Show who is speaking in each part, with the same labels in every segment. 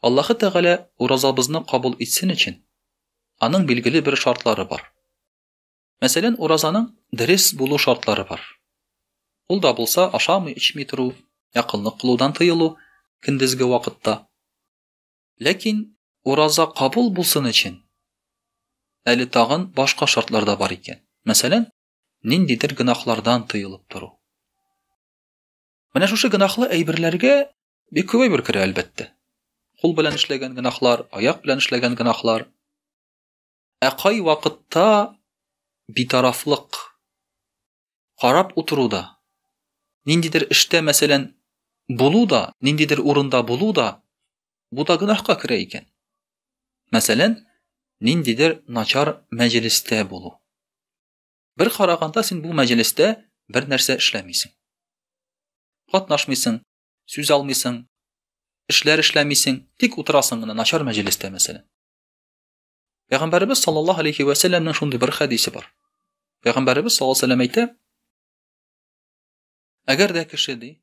Speaker 1: Аллаһы Тәгалә уразабызны кабул итсен өчен, аның билгеле бер шартлары бар. Мәсәлән, уразаның дөрес булу шартлары бар. Ул да булса ашамый-эчми тору, якынлык кылудан тыелу көндезге вакытта. Ләкин ураза кабул булсын өчен, әле тагын башка шартлар да бар икән. Мәсәлән, ниндидер гөнаһлардан тыелып тору. Менә шушы гөнаһлы әйберләргә Бик күп әйбер керә, әлбәттә. Кул белән эшләгән гөнаһлар, аяк белән эшләгән гөнаһлар. Ә кай вакытта битарафлык карап утыру да, ниндидер эштә, мәсәлән, булу да, ниндидер урында булу да, бу да гөнаһка керә икән. Мәсәлән, ниндидер начар мәҗлестә булу. Бер караганда син бу мәҗлестә бер нәрсә эшләмисең. Катнашмыйсың, сүз алмыйсың, эшләр эшләмисең, тик утырасың гына начар мәҗлестә мәсәлән. Пәйгамбәрбез саллаллаһу алейхи ва сәлламның шундый бер хәдисе бар. Пәйгамбәрбез саллаллаһу алейхи ва сәллам әйтә: Әгәр дә кеше ди,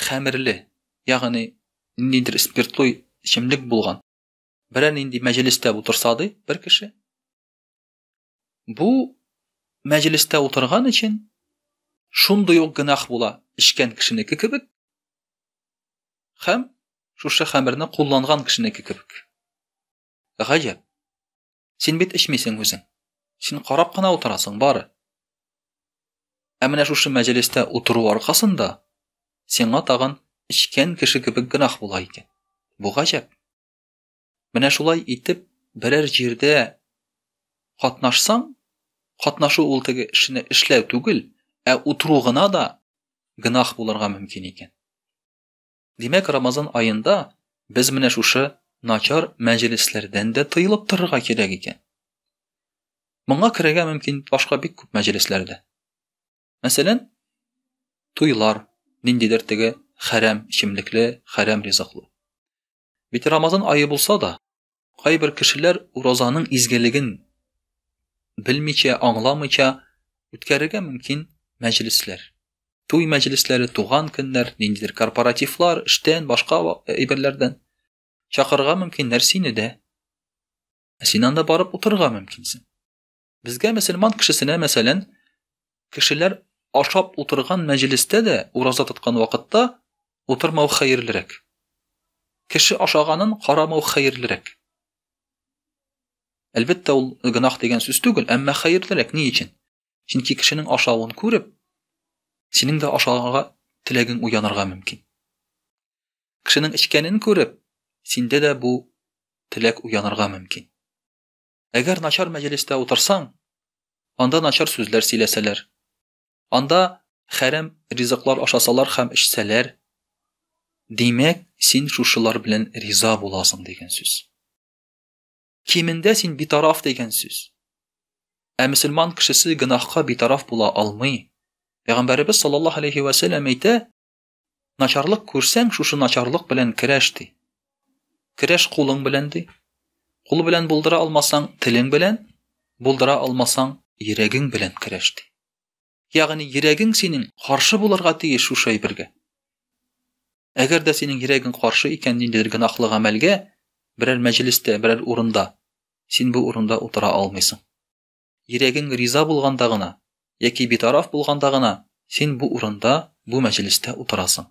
Speaker 1: хәмерле, ягъни ниндидер спиртлы эчемлек булган, берәр нинди мәҗлестә утырса ди, бер кеше, Бу мәҗлестә утырган өчен шундый ук гөнаһ була, эчкән кешенеке кебек һәм шушы хәмерне кулланган кешенеке кебек. Гаҗәп. Син бит эчмисең үзең. Син карап кына утырасың бары. Ә менә шушы мәҗлестә утыру аркасында сиңа тагын эчкән кеше кебек гөнаһ була икән. Бу гаҗәп. Менә шулай итеп, берәр җирдә катнашсаң, катнашу ул теге эшне эшләү түгел, ә утыру гына да гынах булырга мөмкин икән. Димәк, Рамазан аенда без менә шушы начар мәҗлесләрдән дә тыелып торырга кирәк икән. Моңа керергә мөмкин башка бик күп мәҗлесләрдә. Мәсәлән, туйлар, ниндидер теге хәрәм эчемлекле, хәрәм ризыклы. Бит Рамазан айы булса да, кайбер кешеләр уразаның изгелеген белмичә, аңламыйча үткәрергә мөмкин мәҗлесләр. Туй мәҗлесләре, туган көннәр, ниндидер корпоративлар, эштән, башка әйберләрдән чакырырга мөмкиннәр сине дә. Ә син анда барып утырырга мөмкинсең. Безгә мөселман кешесенә, мәсәлән, кешеләр ашап утырган мәҗлестә дә ураза тоткан вакытта утырмау хәерлерәк. Кеше ашаганын карамау хәерлерәк. Әлбәттә, ул гынах дигән сүз түгел, әмма хәерлерәк ни өчен? Чөнки кешенең ашавын күреп, синең дә ашарга теләгең уянырга мөмкин. Кешенең эчкәнен күреп, синдә дә бу теләк уянырга мөмкин. Әгәр начар мәҗлестә утырсаң, анда начар сүзләр сөйләсәләр. Анда хәрәм ризыклар ашасалар һәм эчсәләр, димәк, син шушылар белән риза буласың дигән сүз. Кимендә син битараф дигән сүз. Ә мөселман кешесе гөнаһка битараф була алмый. Пәйгамбәребез саллаллаһу алейхи ва сәлләм әйтә, Начарлык күрсәң, шушы начарлык белән керәш ди. Керәш кулың белән ди. Кул белән булдыра алмасаң, телең белән, булдыра алмасаң, йөрәгең белән керәш ди. Ягъни йөрәгең синең каршы булырга тиеш шушы әйбергә. Әгәр дә синең йөрәгең каршы икән ниндидер гөнаһлы гамәлгә, берәр мәҗлестә, берәр урында, син бу урында утыра алмыйсың. Йөрәгең риза булганда гына, яки битараф булганда гына син бу урында, бу мәҗлестә утырасың.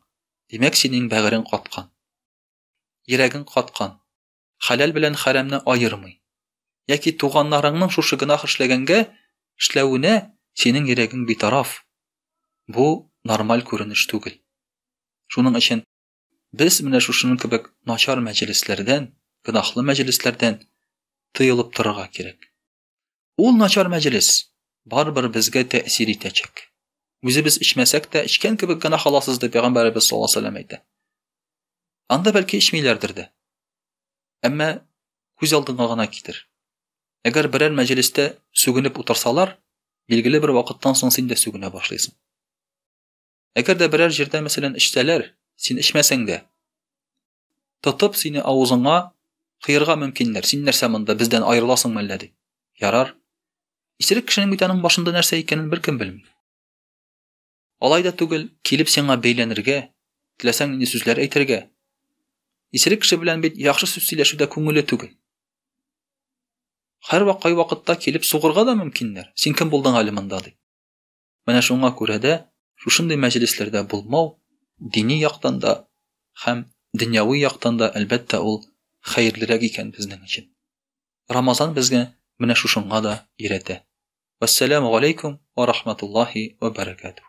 Speaker 1: Димәк, синең бәгырең каткан. Йөрәгең каткан. Хәләл белән хәрәмне аермый. Яки туганнарыңның шушы гөнаһ эшләгәнгә, эшләвенә синең йөрәгең битараф. Бу нормаль күренеш түгел. Шуның өчен без менә шушының кебек начар мәҗлесләрдән, гөнаһлы мәҗлесләрдән тыелып торырга кирәк. Ул начар мәҗлес барыбер безгә тәэсир итәчәк. Үзебез эчмәсәк тә, эчкән кебек генә халасыз дип пәйгамбәребез саллаллаһу алейһи вәсәлләм әйтә. Анда бәлки эчмиләрдер дә. Әмма күз алдыңа гына китер. Әгәр берәр мәҗлестә сүгенеп утырсалар, билгеле бер вакыттан соң син дә сүгенә башлыйсың. Әгәр дә берәр җирдә мәсәлән эчсәләр, син эчмәсәң дә, Тотып сине авызыңа кыерга мөмкиннәр. Син нәрсә монда бездән аерыласың мәллә ди. Ярар. Исерек кешенең бит аның башында нәрсә икәнен беркем белми. Алай да түгел, килеп сиңа бәйләнергә, теләсәң нинди сүзләр әйтергә. Исерек кеше белән бит яхшы сүз сөйләшүдә күңеле түгел. Хәрвак кай вакытта килеп сугырга да мөмкиннәр. Син кем булдың әле монда ди. Менә шуңа күрә дә шушындый мәҗлесләрдә булмау дини яктан да һәм дөньяви яктан да, әлбәттә, ул хәерлерәк икән безнең өчен. Рамазан безгә менә шушыңа да өйрәтә. Вассаламу алейкум ва рахматуллахи ва баракатух.